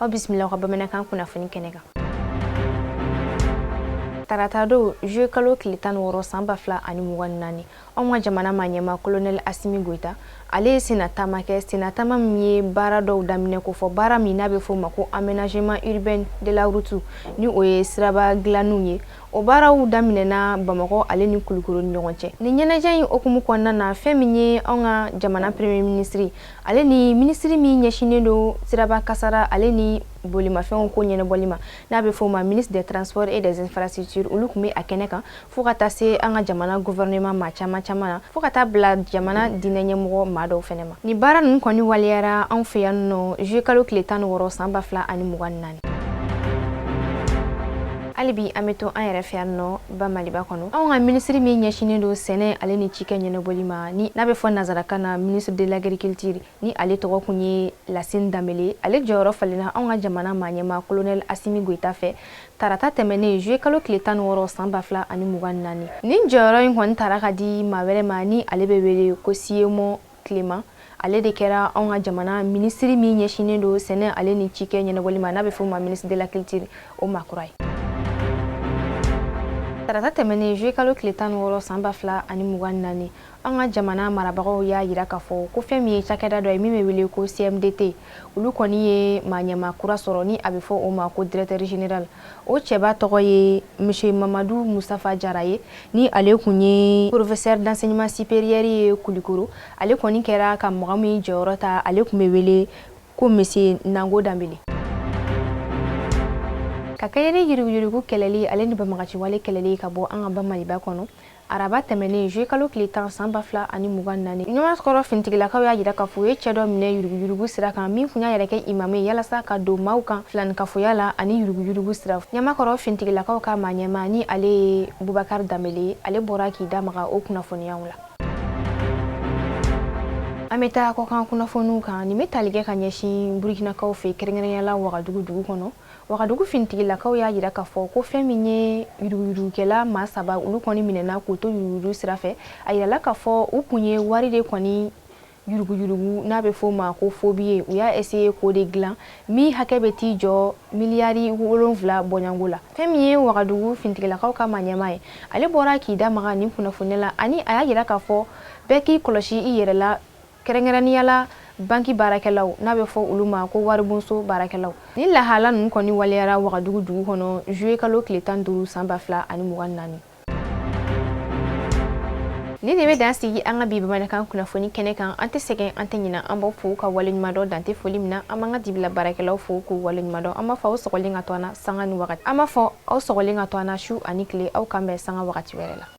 aw bisimila ka bamanankan kunnafoni kɛnɛ kan tarata don juillet kalo tile tan ni wɔɔrɔ san ba fila ani mugan ni naani anw ka jamana maaɲɛma kolonɛli asimi goyita ale ye senna taama kɛ senna taama min ye baara dɔw daminɛ ko fɔ baara min n'a bɛ fɔ o ma ko aménagement urbain de la route ni o ye siraba dilanniw ye o baaraw daminɛna bamakɔ ale ni kulukoro ni ɲɔgɔn cɛ nin ɲɛnajɛ in hukumu kɔnɔna na fɛn min ye anw ka jamana premier ministre ale ni minisiri min ɲɛsinnen don siraba kasara ale ni bolimafɛnw ko ɲɛnabɔli ma n'a bɛ fɔ ma ministre des transports et des infrastructures olu kun bɛ a kɛnɛ kan fo ka taa se an ka jamana gouvernement maa caman caman na fo ka taa bila jamana diinɛ ɲɛmɔgɔ maa dɔw fana ma nin baara ninnu kɔni waleyara anw fɛ yan nɔ juillet kalo tile tan ni wɔɔrɔ san ba fila ani mugan ni naani hali bi an bɛ to an yɛrɛ fɛ yan nɔ ba maliba kɔnɔ anw ka minisiri min ɲɛsinen don sɛnɛ ale ni cikɛ ɲɛnɛbɔli ma ni n'a bɛ fɔ nazarakan na ministre de l'agriculture ni ale tɔgɔ kun ye lasin danbele ale jɔyɔrɔ falenna anw ka jamana maaɲɛma kolonɛl asimi goyita fɛ tarata tɛmɛnen juillet kalo tile tan ni wɔɔrɔ san ba fila ani mugan ni naani nin jɔyɔrɔ in kɔni tara ka di maa wɛrɛ ma ni ale bɛ wele ko siyemɔ kelema ale de kɛra anw ka jamana minisiri min ɲɛsinnen don sɛnɛ ale ni cikɛ ɲɛnabɔli ma n'a bɛ f'o ma ministre de la culture o maa kura ye tarata tɛmɛnen juillet kalo tile tan ni wɔɔrɔ san ba fila ani mugan ni naani an ka jamana marabagaw y'a yira k'a fɔ ko fɛn min ye cakɛda dɔ ye min bɛ wele ko cmdt olu kɔni ye maaɲɛma kura sɔrɔ ni a bɛ fɔ o ma ko directeur général o cɛba tɔgɔ ye monsieur mamadu mustafa jara ye ni ale kun ye professeur d'enseignement supérieur ye kulikoro ale kɔni kɛra ka mɔgɔ min jɔyɔrɔ ta ale kun bɛ wele ko monsieur nango danbele ka kɛɲɛ ni yuruguyurugu kɛlɛli ale ni banbaganci wale kɛlɛli ka bɔ an ka ba maliba kɔnɔ araba tɛmɛnen juillet kalo tile tan san ba fila ani mugan naani ɲamakɔrɔ finitigilakaw y'a yira k'a fɔ u ye cɛ dɔ minɛ yuruguyurugu sira kan min kun y'a yɛrɛ kɛ imamu ye yalasa ka don maaw kan filanikafoya la ani yuruguyurugu sira ɲamakɔrɔ finitigilakaw ka maaɲɛmaa ni ale ye bubakari danbele ye ale bɔra k'i da maga o kunnafoniyaw la an bɛ taa kɔkan kunnafoniw kan nin bɛ tali kɛ ka ɲɛsin burukinakaw fɛ kɛrɛnkɛrɛnya la wagadugu dugu kɔnɔ Wagadugu finitigilakaw y'a yira k'a fɔ ko fɛn min ye yuruguyurugukɛla maa saba olu kɔni minɛna k'u to yuruguyurugu sira fɛ a yirala k'a fɔ u kun ye wari de kɔni yuruguyurugu n'a bɛ f'o ma ko faux billets u y'a essayer k'o de dilan min hakɛ bɛ t'i jɔ miliyari wolonwula bɔɲɔgɔnko la fɛn min ye wagadugu finitigilakaw ka maaɲɛma ye ale bɔra k'i da maga nin kunnafoniya la ani a y'a yira k'a fɔ bɛɛ k'i kɔlɔsi i yɛrɛ la kɛrɛnkɛrɛnnenya la banki baarakɛlaw n'a bɛ fɔ olu ma ko waribonso baarakɛlaw nin lahala ninnu kɔni waleyara wagadugu dugu kɔnɔ juillet kalo tile tan duuru san ba fila ani mugan naani nin de bɛ dan sigi an ka bi bamanankan kunnafoni kɛnɛ kan an tɛ sɛgɛn an tɛ ɲinan an b'aw fo ka waleɲumandɔn dan tɛ foli min na an b'an ka dibila baarakɛlaw fo k'u waleɲumandɔn an b'a fɔ aw sɔgɔlen ka to an na sanga ni wagati an b'a fɔ aw sɔgɔlen ka to an na su ani tile aw k'an bɛn sanga wagati wɛrɛ la